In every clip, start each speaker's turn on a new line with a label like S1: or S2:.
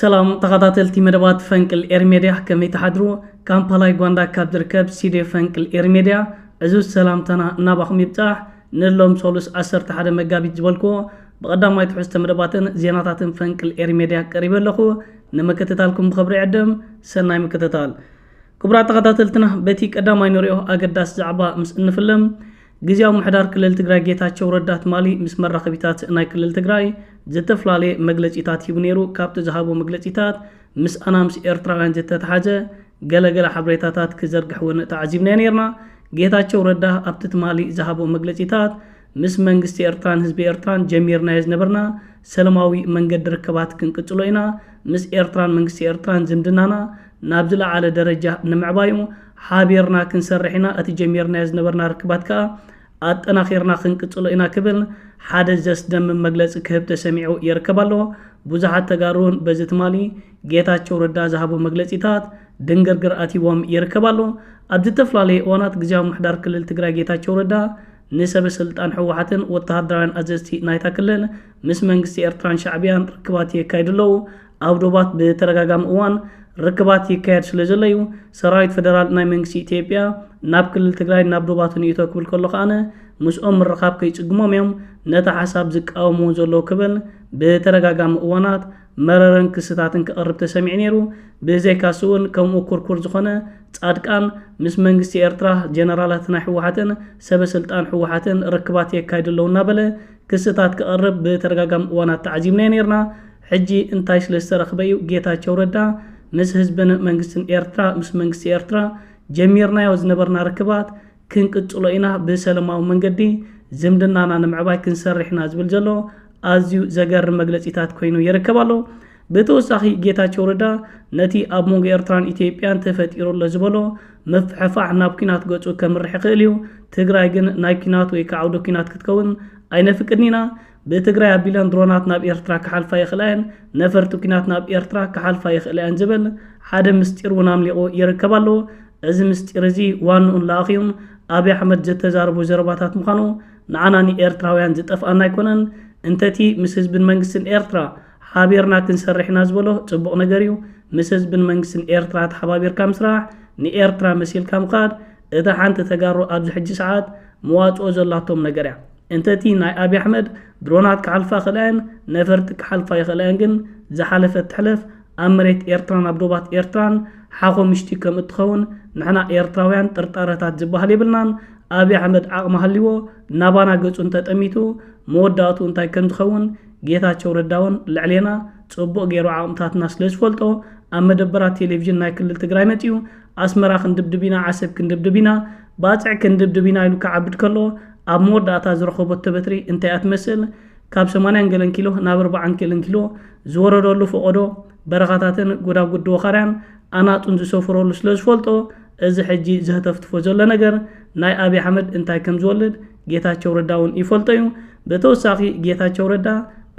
S1: ሰላም ተኻታተልቲ መደባት ፈንቅል ኤሪ ሜድያ ከመይ ትሓድሩ ካምፓላ ዩጋንዳ ካብ ዝርከብ ሲዴ ፈንቅል ኤሪ ሜድያ ዕዙዝ ሰላምታና ናባኹም ይብጻሕ ንሎም ሶሉስ ዓሰርተ ሓደ መጋቢት ዝበልኩዎ ብቐዳማይ ትሕዝቶ መደባትን ዜናታትን ፈንቅል ኤሪ ሜድያ ቀሪበ ኣለኹ ንምክትታልኩም ብኽብሪ ዕድም ሰናይ ምክትታል ክቡራት ተኻታተልትና በቲ ቀዳማይ ንሪኦ ኣገዳሲ ዛዕባ ምስ እንፍልም ግዝያዊ ምሕዳር ክልል ትግራይ ጌታቸው ረዳ ትማሊ ምስ መራኸቢታት ናይ ክልል ትግራይ ዝተፈላለየ መግለፂታት ሂቡ ነይሩ። ካብቲ ዝሃቦ መግለፂታት ምስኣና ምስ ኤርትራውያን ዝተተሓዘ ገለ ገለ ሓበሬታታት ክዘርግሕ እውን ተዓዚብናዮ ነይርና። ጌታቸው ረዳ ኣብቲ ትማሊ ዝሃቦ መግለፂታት ምስ መንግስቲ ኤርትራን ህዝቢ ኤርትራን ጀሚርናዮ ዝነበርና ሰለማዊ መንገዲ ርክባት ክንቅፅሎ ኢና፣ ምስ ኤርትራን መንግስቲ ኤርትራን ዝምድናና ናብ ዝለዓለ ደረጃ ንምዕባዩ ሓቢርና ክንሰርሕ ኢና፣ እቲ ጀሚርናዮ ዝነበርና ርክባት ከኣ ኣጠናኺርና ክንቅጽሎ ኢና ክብል ሓደ ዘስደምም መግለጺ ክህብ ተሰሚዑ ይርከብ ኣሎ። ብዙሓት ተጋሩ'ውን በዚ ትማሊ ጌታቸው ረዳ ዝሃቦ መግለጺታት ድንግርግር ኣትይዎም ይርከብ ኣሎ። ኣብ ዝተፈላለየ እዋናት ግዝያዊ ምምሕዳር ክልል ትግራይ ጌታቸው ረዳ ንሰበ ስልጣን ህወሓትን ወተሃደራውያን ኣዘዝቲ ናይታ ክልል ምስ መንግስቲ ኤርትራን ሻዕብያን ርክባት የካይዱ ኣለዉ። ኣብ ዶባት ብተደጋጋሚ እዋን ርክባት ይካየድ ስለ ዘሎ እዩ ሰራዊት ፈደራል ናይ መንግስቲ ኢትዮጵያ ናብ ክልል ትግራይ ናብ ዶባት ንእቶ ክብል ከሎ ከኣነ ምስኦም ምርኻብ ከይጽግሞም እዮም ነቲ ሓሳብ ዝቃወምዎ ዘለዉ ክብል ብተደጋጋሚ እዋናት መረረን ክስታትን ክቐርብ ተሰሚዑ ነይሩ። ብዘይካስ እውን ከምኡ ኩርኩር ዝኾነ ጻድቃን ምስ መንግስቲ ኤርትራ ጀነራላት ናይ ህወሓትን ሰበ ስልጣን ህወሓትን ርክባት የካይዱ ኣለዉ እናበለ ክስታት ክቐርብ ብተደጋጋሚ እዋናት ተዓዚብናዮ ነይርና። ሕጂ እንታይ ስለ ዝተረኽበ እዩ ጌታቸው ረዳ ምስ ህዝብን መንግስትን ኤርትራ ምስ መንግስቲ ኤርትራ ጀሚርናዮ ዝነበርና ርክባት ክንቅጽሎ ኢና ብሰለማዊ መንገዲ ዝምድናና ንምዕባይ ክንሰርሕ ኢና ዝብል ዘሎ ኣዝዩ ዘገርም መግለጺታት ኮይኑ ይርከብ ኣሎ ብተወሳኺ ጌታቸው ረዳ ነቲ ኣብ መንጎ ኤርትራን ኢትዮጵያን ተፈጢሩ ኣሎ ዝበሎ ምፍሕፋሕ ናብ ኩናት ገጹ ከምርሕ ይኽእል እዩ ትግራይ ግን ናይ ኩናት ወይ ካዓውደ ኩናት ክትከውን ኣይነፍቅድን ኢና ብትግራይ ኣቢለን ድሮናት ናብ ኤርትራ ክሓልፋ ይኽእላ'የን፣ ነፈርቲ ኲናት ናብ ኤርትራ ክሓልፋ ይኽእላ'የን ዝብል ሓደ ምስጢር'ውን ኣምሊቑ ይርከብ ኣሎ። እዚ ምስጢር'ዚ ዋንኡን ለኣኺኡን ኣብይ ኣሕመድ ዘተዛረቦ ዘረባታት ምዃኑ ንዓና ንኤርትራውያን ዝጠፍኣና ኣይኮነን። እንተ'ቲ ምስ ህዝብን መንግስትን ኤርትራ ሓቢርና ክንሰርሕ ኢና ዝበሎ ጽቡቕ ነገር'ዩ፣ ምስ ህዝብን መንግስትን ኤርትራ ተሓባቢርካ ምስራሕ፣ ንኤርትራ መሲልካ ምኻድ፣ እታ ሓንቲ ተጋሩ ኣብዚ ሕጂ ሰዓት መዋጽኦ ዘላቶም ነገር እያ። እንተቲ ናይ ኣቢ ኣሕመድ ድሮናት ክሓልፋ ክእላ እየን ነፈርቲ ክሓልፋ ይኽእላ እየን ግን ዝሓለፈት ትሕለፍ ኣብ መሬት ኤርትራን ኣብ ዶባት ኤርትራን ሓኾምሽቲ ከምእትኸውን ንሕና ኤርትራውያን ጥርጣረታት ዝበሃል የብልናን ኣቢ ኣሕመድ ዓቕሚ ሃልይዎ ናባና ገጹ እንተጠሚቱ መወዳእትኡ እንታይ ከምዝኸውን ጌታቸው ረዳውን ልዕሌና ጽቡቕ ገይሩ ዓቕምታትና ስለዝፈልጦ ኣብ መደበራት ቴሌቭዥን ናይ ክልል ትግራይ መጺኡ ኣስመራ ክንድብድብ ኢና፣ ዓሰብ ክንድብድብ ኢና፣ ባጽዕ ክንድብድብ ኢና ኢሉ ክዓብድ ከሎ፣ ኣብ መወዳእታ ዝረኸቦቶ በትሪ እንታይ እያ ትመስል? ካብ ሰማንያን ገለን ኪሎ ናብ ኣርባዓን ገለን ኪሎ ዝወረደሉ ፈቖዶ በረኻታትን ጎዳጉዲ ወኻርያን ኣናጡን ዝሰፈረሉ ስለ ዝፈልጦ፣ እዚ ሕጂ ዘህተፍትፎ ዘሎ ነገር ናይ ኣብይ ኣሕመድ እንታይ ከም ዝወልድ ጌታቸው ረዳ እውን ይፈልጦ እዩ። ብተወሳኺ ጌታቸው ረዳ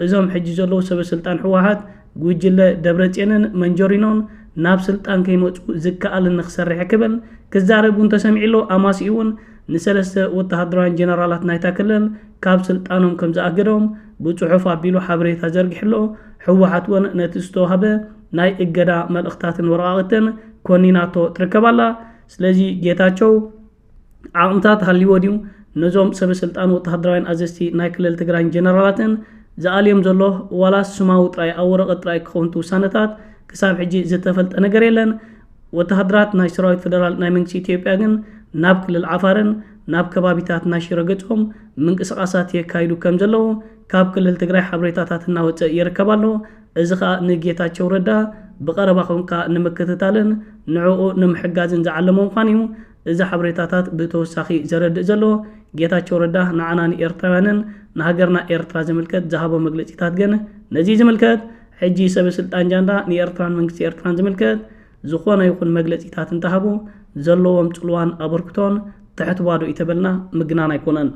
S1: እዞም ሕጂ ዘለዉ ሰበስልጣን ህወሓት ጉጅለ ደብረፅዮንን መንጆሪኖን ናብ ስልጣን ከይመፁ ዝከኣል ንክሰርሕ ክብል ክዛረብ እውን ተሰሚዑ ኣሎ። ኣማስይኡ እውን ንሰለስተ ወተሃደራውያን ጀነራላት ናይታ ክልል ካብ ስልጣኖም ከምዝኣገዶም ብፅሑፍ ኣቢሉ ሓበሬታ ዘርጊሑ ኣሎ። ህወሓት እውን ነቲ ዝተውሃበ ናይ እገዳ መልእኽታትን ወረቓቕትን ኮኒናቶ ትርከብ ኣላ። ስለዚ ጌታቸው ዓቕምታት ሃልይዎ ድዩ? ነዞም ሰበስልጣን ወተሃደራውያን ኣዘዝቲ ናይ ክልል ትግራይን ጀነራላትን ዝኣልዮም ዘሎ ዋላስ ስማዊ ጥራይ ኣብ ወረቐት ጥራይ ክኸውን እቲ ውሳነታት ክሳብ ሕጂ ዝተፈልጠ ነገር የለን። ወተሃደራት ናይ ሰራዊት ፈደራል ናይ መንግስቲ ኢትዮጵያ ግን ናብ ክልል ዓፋርን ናብ ከባቢታት ናይ ሽረ ገጾም ምንቅስቓሳት የካይዱ ከምዘለዉ ካብ ክልል ትግራይ ሓበሬታታት እናወጸ ይርከብ ኣሎ። እዚ ከኣ ንጌታቸው ረዳ ብቐረባ ኮንካ ንምክትታልን ንዕኡ ንምሕጋዝን ዝዓለመ ምዃኑ'ዩ እዚ ሓበሬታታት ብተወሳኺ ዘረድእ ዘሎ። ጌታቸው ረዳ ንዓና ንኤርትራውያንን ንሃገርና ኤርትራ ዝምልከት ዝሃቦ መግለጺታት ግን ነዚ ዝምልከት ሕጂ ሰበስልጣን ጃንዳ ንኤርትራን መንግስቲ ኤርትራን ዝምልከት ዝኾነ ይኹን መግለጺታት እንተሃቡ ዘለዎም ጽልዋን ኣበርክቶን ትሕት ባዶ እዩ ተበልና ምግናን ኣይኮነን።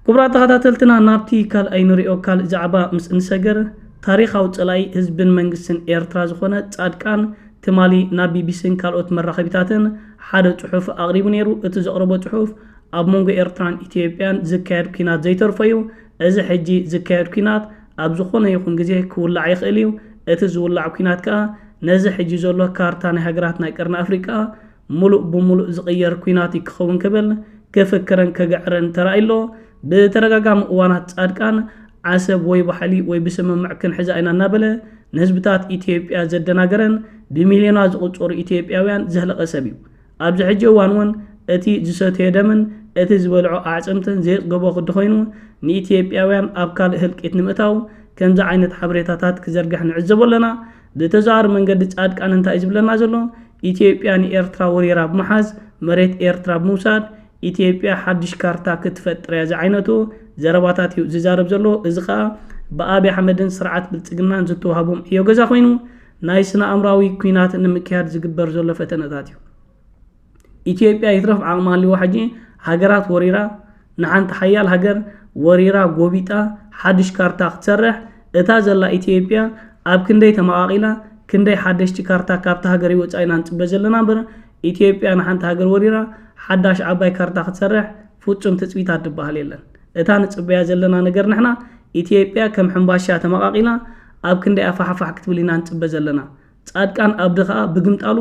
S1: ክቡራት ተኸታተልትና ናብቲ ካልኣይ ንሪኦ ካልእ ዛዕባ ምስ እንሰግር ታሪኻዊ ጸላኢ ህዝብን መንግስትን ኤርትራ ዝኾነ ጻድቃን ትማሊ ናብ ቢቢሲን ካልኦት መራኸቢታትን ሓደ ጽሑፍ ኣቕሪቡ ነይሩ። እቲ ዘቕረቦ ጽሑፍ ኣብ መንጎ ኤርትራን ኢትዮጵያን ዝካየድ ኲናት ዘይተርፎ'ዩ። እዚ ሕጂ ዝካየድ ኲናት ኣብ ዝኾነ ይኹን ግዜ ክውላዕ ይኽእል እዩ፣ እቲ ዝውላዕ ኲናት ከኣ ነዚ ሕጂ ዘሎ ካርታ ናይ ሃገራት ናይ ቀርኒ ኣፍሪቃ ምሉእ ብምሉእ ዝቕየር ኲናት እዩ ክኸውን ክብል ክፍክርን ክግዕርን ተራእዩ ኣሎ። ብተደጋጋሚ እዋናት ጻድቃን ዓሰብ ወይ ባሕሊ ወይ ብስምምዕ ክንሕዛ ኢና እናበለ ንህዝብታት ኢትዮጵያ ዘደናገረን ብሚልዮናት ዝቑጸሩ ኢትዮጵያውያን ዘህለቐ ሰብ እዩ። ኣብዚ ሕጂ እዋን እውን እቲ ዝሰትዮ ደምን እቲ ዝበልዖ ኣዕፅምትን ዘየፅገቦ ክዲ ኮይኑ ንኢትዮጵያውያን ኣብ ካልእ ህልቂት ንምእታው ከምዚ ዓይነት ሓበሬታታት ክዘርግሕ ንዕዘቦ ኣለና። ብተዘዋዋሪ መንገዲ ፃድቃን እንታይ እዩ ዝብለና ዘሎ? ኢትዮጵያ ንኤርትራ ወሪራ ብምሓዝ መሬት ኤርትራ ብምውሳድ ኢትዮጵያ ሓዱሽ ካርታ ክትፈጥር እያ ዝዓይነቱ ዘረባታት እዩ ዝዛረብ ዘሎ። እዚ ከዓ ብኣብይ ኣሕመድን ስርዓት ብልፅግናን ዝተውሃቦም ዕዮ ገዛ ኮይኑ ናይ ስነ-ኣእምራዊ ኩናት ንምክያድ ዝግበር ዘሎ ፈተነታት እዩ። ኢትዮጵያ ይትረፍ ዓቕሚ ሃልይዋ ሕጂ ሃገራት ወሪራ ንሓንቲ ሓያል ሃገር ወሪራ ጎቢጣ ሓዱሽ ካርታ ክትሰርሕ እታ ዘላ ኢትዮጵያ ኣብ ክንደይ ተመቓቒላ ክንደይ ሓደሽቲ ካርታ ካብታ ሃገርይ ወጻኢ ኢና ንጽበ ዘለና እምበር ኢትዮጵያ ንሓንቲ ሃገር ወሪራ ሓዳሽ ዓባይ ካርታ ክትሰርሕ ፉጹም ትጽቢታት ድበሃል የለን እታ ንጽበያ ዘለና ነገር ንሕና ኢትዮጵያ ከም ሕምባሻ ተመቃቂላ ኣብ ክንዳያ ፋሕፋሕ ክትብል ኢና ንጽበ ዘለና ጻድቃን ኣብዲ ከኣ ብግምጣሉ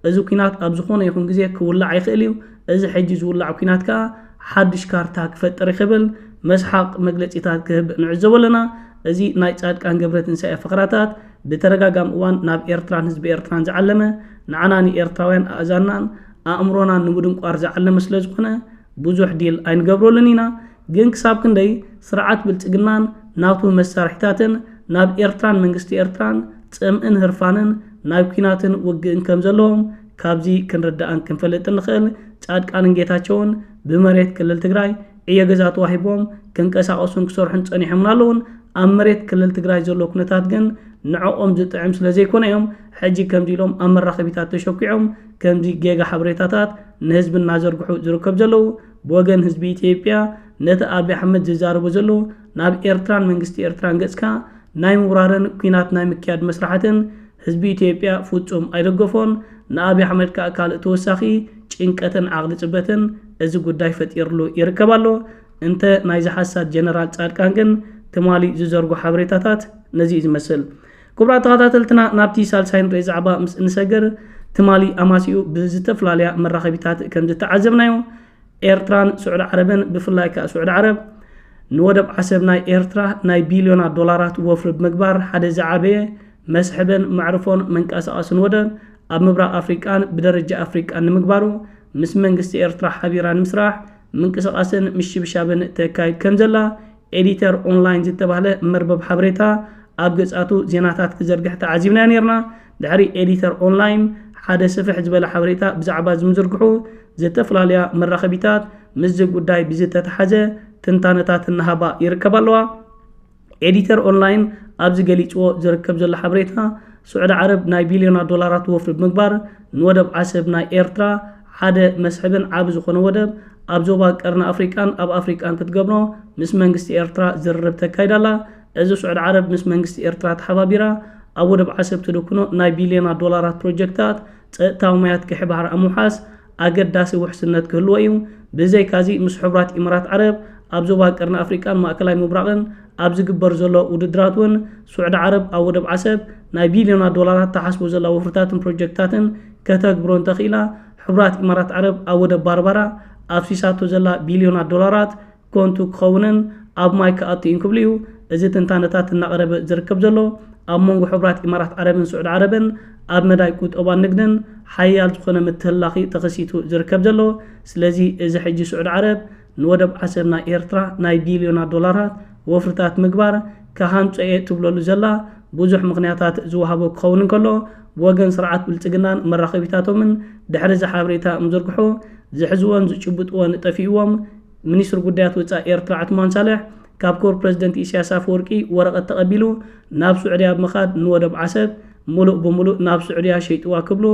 S1: እዚ ኩናት ኣብ ዝኮነ ይኩን ግዜ ክውላዕ ይክእል እዩ እዚ ሕጂ ዝውላዕ ኩናት ከኣ ሓዱሽ ካርታ ክፈጥር ይክብል መስሓቅ መግለጺታት ክህብ ንዕዘቦ ኣለና እዚ ናይ ጻድቃን ገብረትንሳኤ ፈክራታት ብተደጋጋሚ እዋን ናብ ኤርትራን ህዝቢ ኤርትራን ዝዓለመ ንዓና ንኤርትራውያን ኣእዛንናን ኣእምሮና ንምድንቋር ዝዓለመ ስለ ዝኾነ ብዙሕ ዲል ኣይንገብረሉን ኢና፣ ግን ክሳብ ክንደይ ስርዓት ብልጽግናን ናቱ መሳርሒታትን ናብ ኤርትራን መንግስቲ ኤርትራን ጽምእን ህርፋንን ናይ ኩናትን ውግእን ከም ዘለዎም ካብዚ ክንርዳእን ክንፈልጥን ንኽእል፣ ጻድቃንን ጌታቸውን ብመሬት ክልል ትግራይ ዕዮ ገዛ ተዋሂብዎም ክንቀሳቐሱን ክሰርሑን ጸኒሖምን ኣለዉን፣ ኣብ መሬት ክልል ትግራይ ዘሎ ኩነታት ግን ንዕኦም ዝጥዕም ስለ ዘይኮነ እዮም ሕጂ ከምዚ ኢሎም ኣብ መራኸቢታት ተሸኲዖም ከምዚ ጌጋ ሓበሬታታት ንህዝቢ እናዘርግሑ ዝርከብ ዘለዉ ብወገን ህዝቢ ኢትዮጵያ ነቲ ኣቢ ኣሕመድ ዝዛረቦ ዘሎ ናብ ኤርትራን መንግስቲ ኤርትራን ገጽካ ናይ ምውራርን ኩናት ናይ ምክያድ መስራሕትን ህዝቢ ኢትዮጵያ ፍጹም ኣይደገፎን ንኣቢ ኣሕመድ ከኣ ካልእ ተወሳኺ ጭንቀትን ዓቕሊ ጽበትን እዚ ጉዳይ ፈጢርሉ ይርከብ ኣሎ እንተ ናይዚ ሓሳድ ጀነራል ጻድቃን ግን ትማሊ ዝዘርጎ ሓበሬታታት ነዚ እዩ ዝመስል ክቡራት ተኸታተልትና ናብቲ ሳልሳይ ንሪኦ ዛዕባ ምስ እንሰግር ትማሊ ኣማሲኡ ብዝተፈላለያ መራኸቢታት ከም ዝተዓዘብናዮ ኤርትራን ስዑዲ ዓረብን ብፍላይ ከዓ ስዑዲ ዓረብ ንወደብ ዓሰብ ናይ ኤርትራ ናይ ቢልዮናት ዶላራት ወፍሪ ብምግባር ሓደ ዝዓበየ መስሕብን መዕርፎን መንቀሳቐስን ወደብ ኣብ ምብራቕ ኣፍሪቃን ብደረጃ ኣፍሪቃን ንምግባሩ ምስ መንግስቲ ኤርትራ ሓቢራ ንምስራሕ ምንቅስቓስን ምሽብሻብን ተካይድ ከም ዘላ ኤዲተር ኦንላይን ዝተባህለ መርበብ ሓበሬታ ኣብ ገጻቱ ዜናታት ክዘርግሕ ተዓዚብናዮ ነይርና። ድሕሪ ኤዲተር ኦንላይን ሓደ ስፍሕ ዝበለ ሓበሬታ ብዛዕባ ዝምዝርግሑ ዝተፈላለያ መራኸቢታት ምስዚ ጉዳይ ብዝተተሓዘ ትንታነታት እናሃባ ይርከባ ኣለዋ። ኤዲተር ኦንላይን ኣብዚ ገሊጽዎ ዝርከብ ዘሎ ሓበሬታ፣ ስዑዲ ዓረብ ናይ ቢልዮናት ዶላራት ወፍሪ ብምግባር ንወደብ ዓሰብ ናይ ኤርትራ ሓደ መስሕብን ዓቢ ዝኾነ ወደብ ኣብ ዞባ ቀርኒ ኣፍሪቃን ኣብ ኣፍሪቃን ክትገብሮ ምስ መንግስቲ ኤርትራ ዝርርብ ተካይድ ኣላ። እዚ ሱዕዲ ዓረብ ምስ መንግስቲ ኤርትራ ተሓባቢራ ኣብ ወደብ ዓሰብ ትድኩኖ ናይ ቢልዮናት ዶላራት ፕሮጀክታት ጸጥታዊ ማያት ግሒ ባሕሪ ኣብ ምውሓስ ኣገዳሲ ውሕስነት ክህልዎ እዩ። ብዘይካዚ ምስ ሕቡራት ኢምራት ዓረብ ኣብ ዞባ ቀርኒ ኣፍሪቃን ማእከላይ ምብራቕን ኣብ ዝግበር ዘሎ ውድድራት እውን ሱዕዲ ዓረብ ኣብ ወደብ ዓሰብ ናይ ቢልዮናት ዶላራት ተሓስቦ ዘላ ወፍርታትን ፕሮጀክታትን ከተግብሮ እንተኽኢላ፣ ሕቡራት ኢማራት ዓረብ ኣብ ወደብ ባርባራ ኣፍሲሳቶ ዘላ ቢልዮናት ዶላራት ኮንቱ ክኸውንን ኣብ ማይ ክኣቱ እዩን ክብሉ እዩ እዚ ትንታነታት እናቐረበ ዝርከብ ዘሎ። ኣብ መንጎ ሕቡራት ኢማራት ዓረብን ስዑድ ዓረብን ኣብ መዳይ ቁጠባን ንግድን ሓያል ዝኾነ ምትህልላኽ'ዩ ተኸሲቱ ዝርከብ ዘሎ። ስለዚ እዚ ሕጂ ስዑድ ዓረብ ንወደብ ዓሰብ ናይ ኤርትራ ናይ ቢልዮናት ዶላራት ወፍርታት ምግባር ክሃንጾ'የ ትብለሉ ዘላ ብዙሕ ምኽንያታት ዝወሃቦ ክኸውን እንከሎ፣ ብወገን ስርዓት ብልጽግናን መራኸቢታቶምን ድሕሪ'ዚ ሓበሬታ ምዝርግሑ ዝሕዝዎን ዝጭብጥዎን ጠፊኡዎም ሚኒስትሪ ጉዳያት ወጻኢ ኤርትራ ዑትማን ሳልሕ ካብ ክቡር ፕረዚደንት ኢሳያስ ኣፈወርቂ ወረቐት ተቐቢሉ ናብ ስዑድያ ብምኻድ ንወደብ ዓሰብ ምሉእ ብምሉእ ናብ ስዑድያ ሸይጥዋ ክብሉ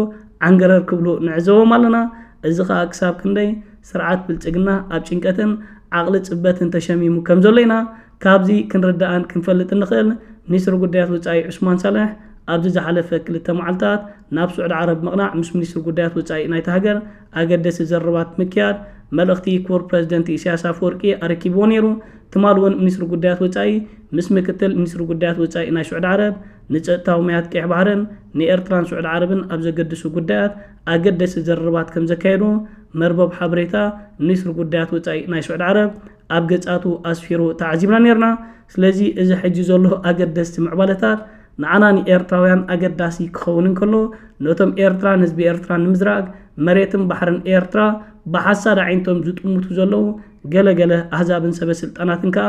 S1: ዓንገረር ክብሉ ንዕዘቦም ኣለና። እዚ ከኣ ክሳብ ክንደይ ስርዓት ብልጽግና ኣብ ጭንቀትን ዓቕሊ ጽበትን ተሸሚሙ ከም ዘሎ ኢና ካብዚ ክንርዳእን ክንፈልጥ እንኽእል። ሚኒስትሪ ጉዳያት ወጻኢ ዑስማን ሳልሕ ኣብዚ ዝሓለፈ ክልተ መዓልታት ናብ ስዑድ ዓረብ ምቕናዕ ምስ ሚኒስትሪ ጉዳያት ወጻኢ ናይታ ሃገር ኣገደሲ ዘረባት ምክያድ መልእኽቲ ክቡር ፕረዚደንት ኢሳያስ ኣፈወርቂ ኣረኪብዎ ነይሩ። ትማል እውን ሚኒስትሪ ጉዳያት ወጻኢ ምስ ምክትል ሚኒስትሪ ጉዳያት ወጻኢ ናይ ስዑድ ዓረብ ንጸጥታዊ ማያት ቀይሕ ባሕርን ንኤርትራን ስዑድ ዓረብን ኣብ ዘገድሱ ጉዳያት ኣገደስቲ ዝርርባት ከም ዘካየዱ መርበብ ሓበሬታ ሚኒስትሪ ጉዳያት ወጻኢ ናይ ስዑድ ዓረብ ኣብ ገጻቱ ኣስፊሩ ተዓዚብና ኔርና፣ ስለዚ እዚ ሕጂ ዘሎ ኣገደስቲ ምዕባለታት ንዓና ንኤርትራውያን ኣገዳሲ ክኸውን እንከሎ ነቶም ኤርትራን ህዝቢ ኤርትራን ንምዝራግ መሬትን ባሕርን ኤርትራ ብሓሳድ ኣዒንቶም ዝጥምቱ ዘለዉ ገለ ገለ ኣህዛብን ሰበ ስልጣናትን ከኣ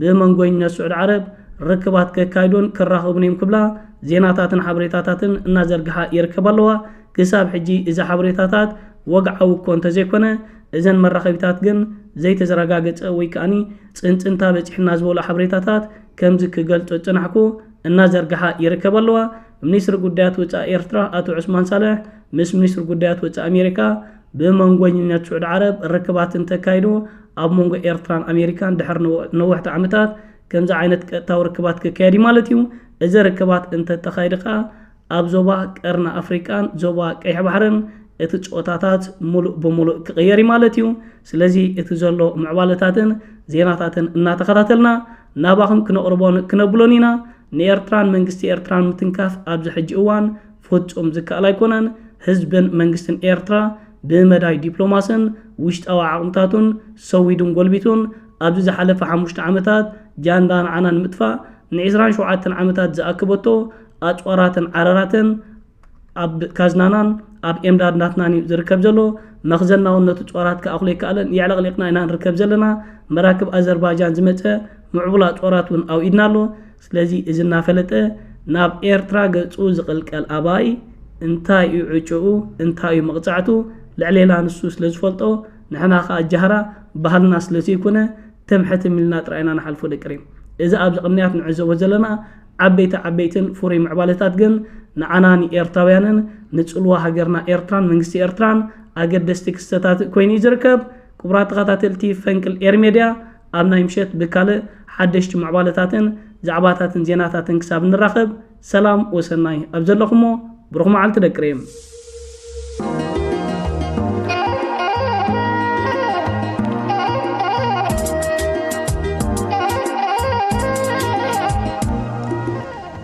S1: ብመንጎኝነት ስዑድ ዓረብ ርክባት ከካይዱን ክራኸቡን እዮም ክብላ ዜናታትን ሓበሬታታትን እናዘርግሓ ይርከባ ኣለዋ። ክሳብ ሕጂ እዚ ሓበሬታታት ወግዓዊ እኮ እንተዘይኮነ እዘን መራኸቢታት ግን ዘይተዘረጋገጸ ወይ ከኣ ጽንጽንታ በጺሑና ዝበሉ ሓበሬታታት ከምዚ ክገልጾ ዝጸናሕኩ እናዘርግሓ ይርከባ ኣለዋ። ሚኒስትሪ ጉዳያት ወጻኢ ኤርትራ ኣቶ ዑስማን ሳልሕ ምስ ሚኒስትሪ ጉዳያት ወጻኢ ኣሜሪካ ብመንጎኝነት ስዑድ ዓረብ ርክባት እንተካይዱ ኣብ መንጎ ኤርትራን ኣሜሪካን ድሕሪ ነወሕቲ ዓመታት ከምዚ ዓይነት ቀጥታዊ ርክባት ክካየድ እዩ ማለት እዩ። እዚ ርክባት እንተተኻይዲ ከኣ ኣብ ዞባ ቀርኒ ኣፍሪቃን ዞባ ቀይሕ ባሕርን እቲ ጾታታት ሙሉእ ብሙሉእ ክቕየር እዩ ማለት እዩ። ስለዚ እቲ ዘሎ ምዕባለታትን ዜናታትን እናተኸታተልና ናባኹም ክነቕርቦን ክነብሎን ኢና። ንኤርትራን መንግስቲ ኤርትራን ምትንካፍ ኣብዚ ሕጂ እዋን ፍጹም ዝከኣል ኣይኮነን፣ ህዝብን መንግስትን ኤርትራ ብመዳይ ዲፕሎማስን ውሽጣዊ ዓቕምታቱን ሰዊዱን ጎልቢቱን ኣብዚ ዝሓለፈ ሓሙሽተ ዓመታት ጃንዳ ንዓና ንምጥፋእ ንዕስራን ሸውዓተን ዓመታት ዝኣከበቶ ኣጽዋራትን ዓረራትን ኣብ ካዝናናን ኣብ ኤምዳድናትናን እዩ ዝርከብ ዘሎ፣ መኽዘናውን ነቲ ጾራት ክኣኽሎ ኣይከኣለን፣ የዕለቕሊቕና ኢና ንርከብ ዘለና፣ መራክብ ኣዘርባጃን ዝመጸ ምዕቡል ኣጽዋራት እውን ኣብ ኢድና ኣሎ፣ ስለዚ እዚ እናፈለጠ ናብ ኤርትራ ገጹ ዝቕልቀል ኣባይ እንታይ እዩ ዕጭኡ እንታይ እዩ መቕጻዕቱ ልዕሌና ንሱ ስለ ዝፈልጦ ንሕና ከኣ ጃህራ ባህልና ስለ ዘይኮነ ትም ሕትም ኢልና ጥራይ ኢና ንሓልፎ ደቂ ሪም። እዚ ኣብዚ ቅንያት ንዕዘቦ ዘለና ዓበይቲ ዓበይትን ፍሩይ ምዕባለታት ግን ንዓና ንኤርትራውያንን ንጽልዋ ሃገርና ኤርትራን መንግስቲ ኤርትራን ኣገደስቲ ክስተታት ኮይኑ እዩ ዝርከብ። ክቡራት ተኸታተልቲ ፈንቅል ኤሪ ሜድያ፣ ኣብ ናይ ምሸት ብካልእ ሓደሽቲ ምዕባለታትን ዛዕባታትን ዜናታትን ክሳብ ንራኸብ ሰላም ወሰናይ ኣብ ዘለኹሞ ብሩኽ መዓልቲ ደቂ ሪም።